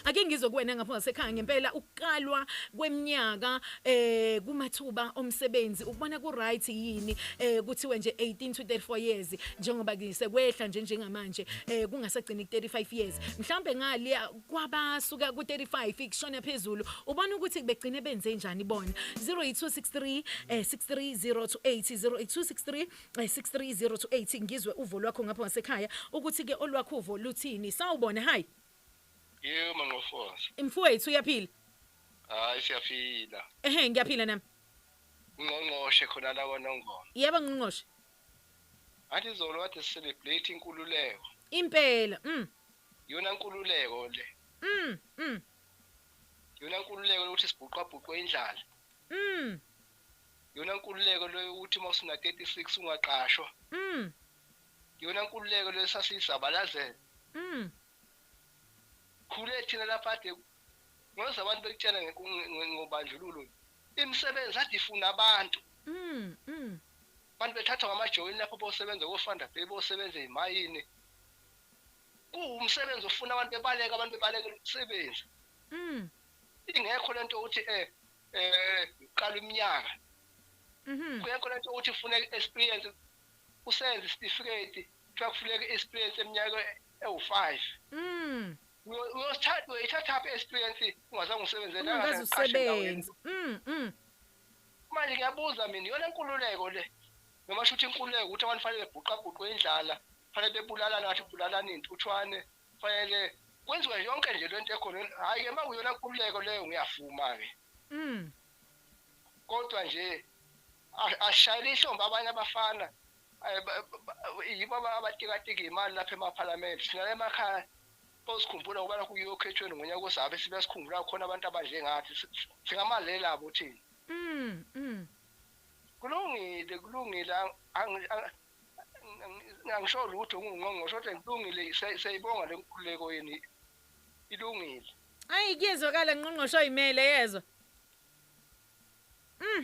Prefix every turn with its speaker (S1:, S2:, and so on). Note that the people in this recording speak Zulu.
S1: Ake ngizwe kuwena ngapha ngasekhaya ngempela ukuqalwa kweminyaka eh kumathuba omsebenzi ukubona ku right yini eh kuthiwe nje 18 to 34 years njengoba ngisekwehla nje njengamanje eh kungasagcini 35 years mhlambe ngale kwabasuka ku 35 ikushona phezulu ubona ukuthi begcine benze njani bona 08263 eh 63028 08263 63028 ngizwe uvo lwakho ngapha ngasekhaya ukuthi ke olwakho uvo luthini sawubona hi Yebo
S2: manqofoza. Mfowethu uyaphila?
S1: Hayi
S2: siyaphila. Ehhe ngiyaphila
S1: nami. Ngqongqoshe
S2: khona la kwaNongoma. Yebo ngqongqoshe. Athi izolo kade celebrate inkululeko. Impela.
S1: Mm. Yona
S2: inkululeko le. Mm. Mm. Yona inkululeko lokuthi sibhuqa bhuqwe indlala. Mm. Yona inkululeko lokuthi uma usuna 36 ungaqashwa. Mm. yona nkululeko leyo sasiyizabalazela mm. khule thina lapha ade ngoze abantu bekutshela ngobandlululo imisebenzi ade ifuna abantu mm, mm. abantu bethathwa ngamajoyini lapho bosebenza kofanda bay bosebenza ezimayini kuwumsebenzi ofuna abantu bebaleka abantu bebalekela umsebenzi mm. ingekho lento ukuthi eh eh qala iminyaka mhm kuyekho lento ukuthi ufuna experience usenze isitifiketi kuthiwa kufuneka i-experience eminyaka ewu-five mm. uyithathaphi i-experience ungazange usebenzeungazusebenzi
S1: mm,
S2: mm. manje ngiyabuza mina iyona nkululeko le noma sho ukuthi inkululeko ukuthi abantu fanele bebhuqabhuqwe indlala fanele bebulalane ngathi bulalanini uthwane fanele kwenziwe yonke nje lento ekhona hayi ke makuyona nkululeko leyo ngiyavuma ke mm kodwa nje ashayela ihlombe abanye abafana yibo abatikatiki imali lapha emaphalamende sinala emakhaya osikhumbula ukuba lokhu kuyokhethweni ngonyaka ozabe sibe sikhumbula khona abantu abanje ngathi singamaleli abo thina mm, mm. kulungile kulungile angisho lutho ngingqongqosho kodwa kulungile siyayibonga le nkululeko yeni ilungile
S1: ayi kuyezwakala ngqongqoshe oyimele
S2: yezwa
S1: mm.